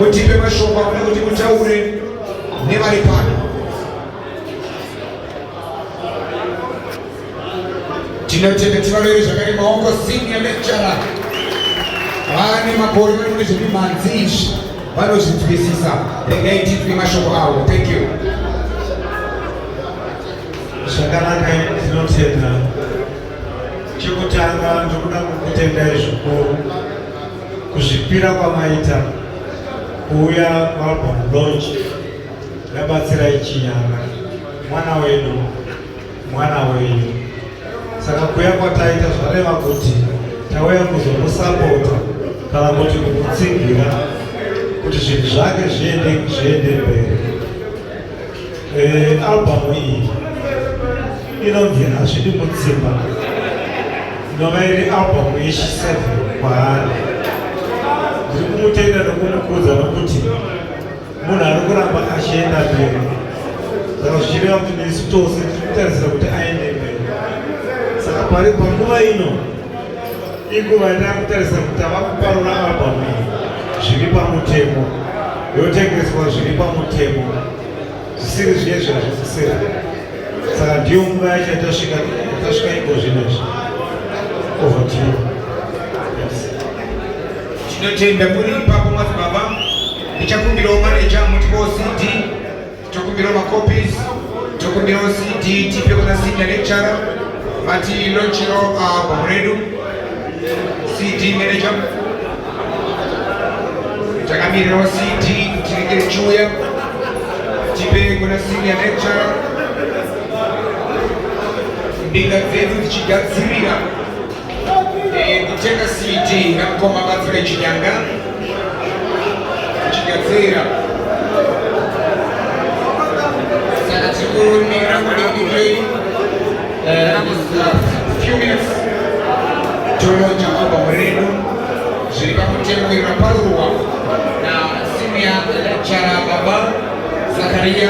mutipe mashoko akuda kuti mutaure nevari pano tinotenda tivarere zvakare maoko senior lecturer vane makore vari kune zvemimhanzi izvi vanozvinzwisisa regai tinzwe mashoko avo thank you zvakanaka tinotenda chekutanga ndokuda kukutendai zvikuru Kuzvipira kwamaita kuuya kualbum launch yabatsirai Chinyanga, mwana wedu, mwana wenyu. Saka kuya kwataita zvareva kuti tauya kuzomusapota kana kuti kumutsigira kuti zvinhu zvake zviende zviende mberi. Eh, album iyi inonzi hazvidi mutsimba inova iri album yechiseve kwaari ndiri kumutenda nokumukudza nokuti munhu ari kuramba achienda mberi saka zvichireva kuti nesu tose tiri kutarisira kuti aende mberi saka pari panguva ino Inguva yatava kutarisa kuti tava kuparura album iyi zviri pamutemo, yotengeswa zviri pamutemo, zvisiri zviye zvazvisisira. Saka ndiyo nguva yacho yatasvika tasvika iko zvino izvi over to you. Tinotenda muri ipapo madzibaba, ndichakumbirawo maneja muti wo CD Tokumbira macopies, tokumbira CD tipe kuna senior lecturer vati launchiro album redu CD manager takamirirawo CD tinenge richiuya tipe kuna senior lecturer mbinga dzedu dzichigadzirira kutenga cd namukoma batsire chinyanga chigadzira saka tikurumira kudikidei few minutes tolonja album redu zviri pakutemuira paruwa na senior lecturer baba zakaria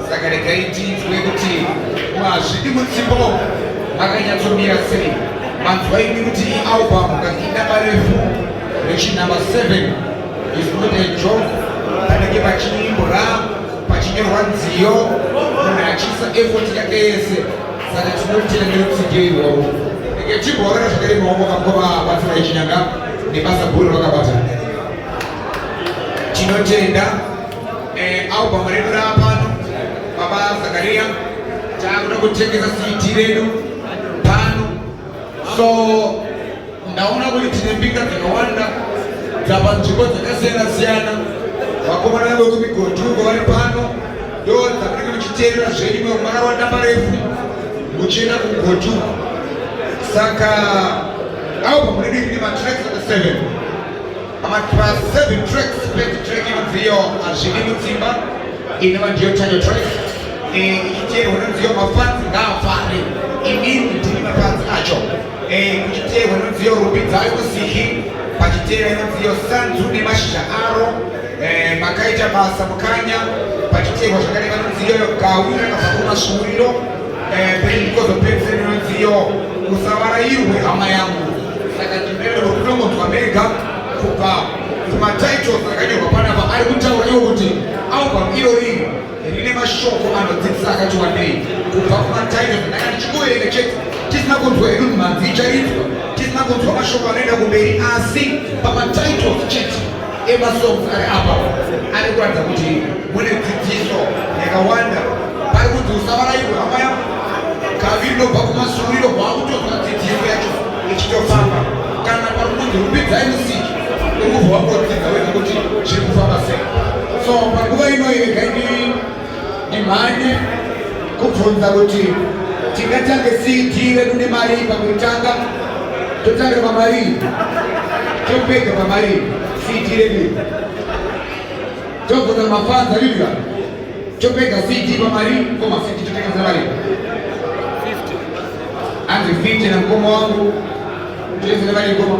saka regai tinzwe kuti mazvidi mutsipo makanyatsomira sei manzwa ini kuti album kakidaba refu rechinumber 7 is not a joke panenge pachiimbora pachinyorwa nziyo munhu achiisa effort yake yese saka tinotenda nerutsike irwowo eke chibhorera zvakare maoko kakova batsira yechinyanga nebasa guru rakabata tinotenda Eh, album redu rapano baba Zakaria takuda kutengesa CD redu pano so ndaona kuti tine mbinga dzakawanda dzapa nzvimbo dzakasiyana siyana vakomana vekumigodhuko vari pano ndo dzakunenge muchiteerera zvedu mwe mwana wadamba refu muchienda kugodhuko saka album redu ine matracks 7 Matracks, seven tracks, best track inodziyo hazvidi mutsimba inova ndiyo tayo track eh, ichiteerwa nodziyo mafanzi ngaafare inini ndiri mafanzi acho eh, kuchiteerwa nodziyo rupi dzayo kusihi pachiteera inodziyo sanzu nemashizha aro eh, makaita basa mukanya pachiteerwa zvakareva nodziyo yogawi rakabva kumasvuuriro Eh, pain because of pain syndrome iyo usavarairwe hama yangu saka ndimene rokutongonzwa mega kubva kumatitles akanyorwa panapa ari kutaura iwo kuti album irori rine mashoko anodzidzisa akati wandei kubva kumatitles ndanga ndichingoverenga chete tisina kunzwa hedu mhanzi ichaitwa tisina kunzwa mashoko anoenda kumberi asi pamatitles chete emasongs ari apa ari kuratidza kuti mune dzidziso yakawanda pari kunzi usavarairwe hama yako kaviri nobva kumasuriro kwakutonzwa dzidziso yacho ichitofamba kana pari kunzi rumbidzai musiki urikubva wakodzidza wena kuti zviri kufamba sei so panguva inoyi regai Ndimhanye kubvunza kuti tingatange CD redu nemari pakutanga totanga pamari topega pamari CD redu tobvunza mafanza yuya topega CD pamari koma CD totanga pamari anzi 50 na mkoma wangu tese nemari koma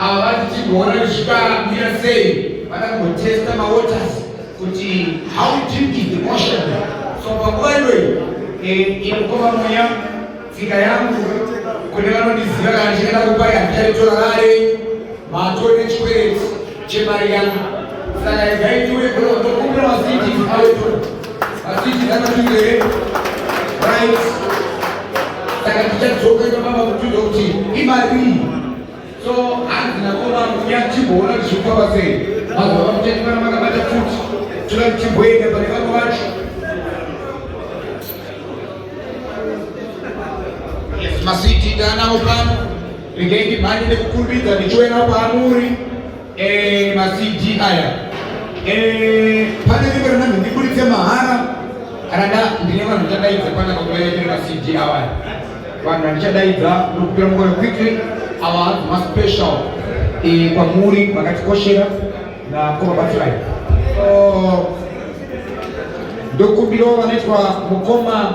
ava vati tigoona zvikamira sei vada kungotesta mawaters kuti how deep is the ocean so panguva iyoyi eh, inokoma mweya tsika yangu kune vanondiziva kana ndichienda kupai handichaitora rare matoo nechikwereti chemari yangu saka igai ndiuye kuno ndokumbira masiti awetora masiti akatungere right saka tichadzoka ipapapa kutuza kuti imari iyi So hanzi nakoma kuya chimboona kuti zvifamba sei. Vanhu vakuchekana makabata futi. Tuna chimboenda pane vamwe vacho. Yes, masiti ndanawo pano. Regai ndimhanye nekukumbidza ndichiwena paamuri. Eh, ma CD aya. Eh, pane rimwe rina ndikuritse mahara. Kana nda ndine vanhu ndichadaidza pana pakulaya tiri ma CD awa. Vanhu vandichadaidza ndokupira mukore quickly awa hanzi ma special eh kwamuri vakatikoshera na kuvabatsirai. Oh, ndokumbirawo vanoitwa mukoma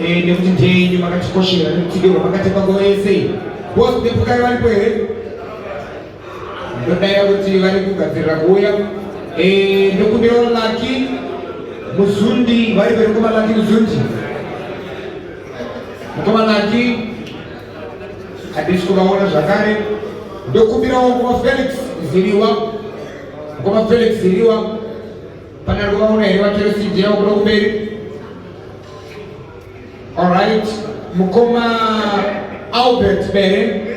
Eh, nekuti ndini makatikoshera nekutidirwa makatepa nguva yese iyi bosi nepukari varipo here ndodaira kuti vari kugadzirira kuuya eh, ndokumbira laki muzundi vari pere mukoma laki muzundi mukoma laki hadisi kuvaona zvakare ndokumbirawo mukoma felix ziriwa mukoma felix ziriwa Pane ari kuvaona here vachero CD yavo kuda kumberi? Alright, mukoma Albert Bere.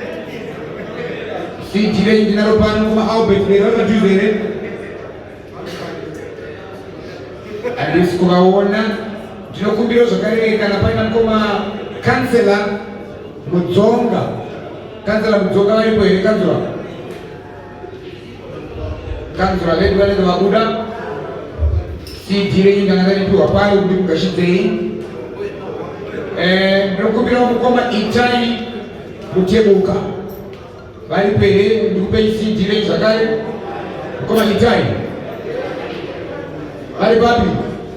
CD renyu ndinaro pano mukoma Albert Bere vanojuza here? Handisi kuvaona. Ndinokumbirawo zvakare kana paina mukoma kansela Mudzonga. Kansela Mudzonga varipo here kansela? kanzura vedu vanenge vabuda cd renyu ndanga ndaripiwa pari kuti kugashidzei eh, ndinokumbira mukoma itai mutebuka vari pere ndikupei cd renyu zvakare mukoma itai vari papi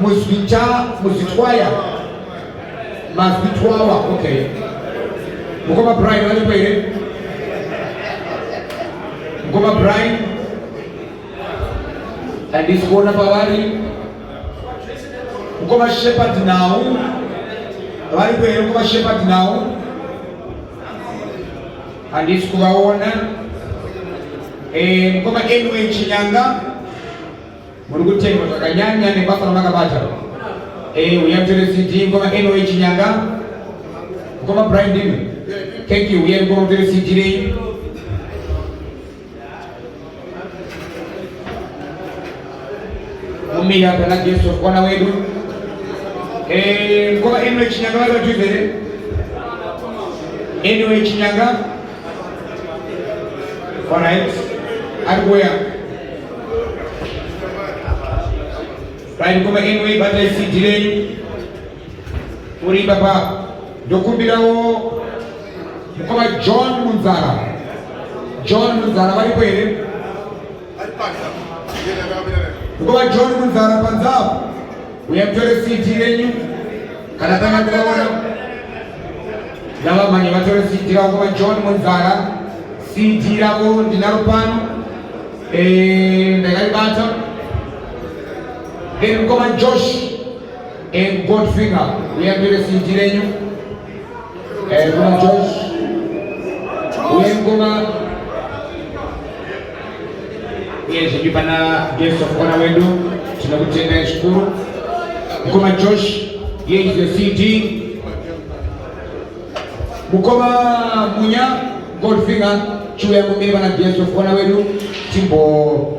Muzvita, muzvitwaya, mazvitwawa, okay. Mukoma Brian valipo here? Mukoma Brian? Handisi kuona pavari. Mukoma Shepherd nawo varipo here? Mukoma Shepherd nawo handisi kuvaona. Eh, Mukoma Enwe Chinyanga Muri kutemba zvakanyanya nebasa ramakabata. Eh, uya mutore CD ngoma eno yechinyanga. Ngoma Brian Dino. Thank you. Uya ngoma mutore CD nei. Umira pana Jesu kona wedu. Eh, ngoma eno yechinyanga vari vatuze. Eno yechinyanga. All right. At where? Right, come again, we but I see delay. Uri baba. Dokumbirawo mukoma John Munzara. John Munzara varipo here? Kuva John Munzara panzapo uya mutore siti renyu kana tanga kuvaona ndavamhanye vatore siti ravo kuva John Munzara siti ravo ndinaro pano eh, ndakaribata then mukoma Josh and Godfinger uya mutore siti renyu Eh, kuna Josh uye ngoma uye zvedu pana guest of honor wedu tinokutendai zvikuru mukoma Josh here is the CD mukoma Munya Goldfinger chiuya kumira pana guest of honor wedu timbo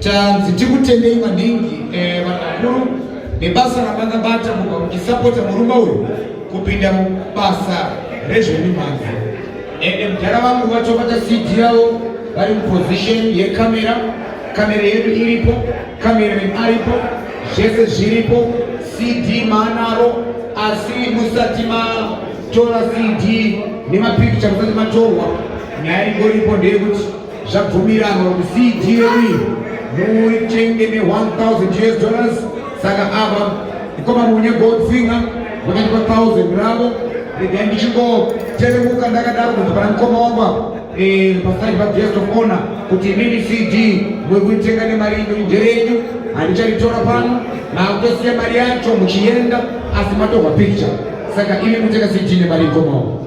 Tanzi tikutendei maningi eh, vanakuru nebasa ramakabata mubva muchisapota murume uyu kupinda mubasa rezvemimhanzi ende mudhara vangu vatobata cd yavo vari muposition yekamera kamera yedu iripo kamera aripo zvese zviripo cd maanaro asi musati matora cd nemapikicha musati matorwa nyaya ingoripo ndeyekuti zvabvumiranwa kuti cgme muitenge ne 1000 us dollars saka ava ikoma munya goldfinger vakati pa 1000 ravo regai ndichingoteremuka ndakadaro kuti pana mukoma wangu apa eh, paside pa guest of honor kuti imimi cd muri kuitenga nemari ino nderenyu handicharitora pano makutosiya mari yacho muchienda asi matorwa picture saka imi mutenga cd nemari ikoma wangu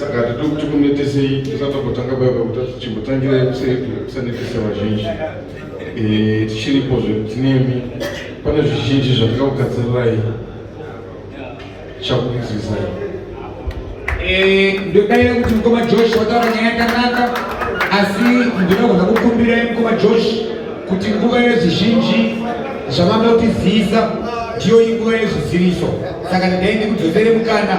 saka hatidi kuti kunetesei tisati tambotanga baiba kuti chimbotangirai kusanetesa vazhinji eh, tichiripo zvekuti nemi pane zvizhinji zvatingakugadzirai chakudzidzisai eh, ndodaira kuti mukoma josh wataura nyaya yakanaka asi ndinogona kukumbirai mukoma josh kuti nguva yezvizhinji zvamanga kutizivisa ndiyo inguva yezviziviso saka ndidai ndikudzosere mukana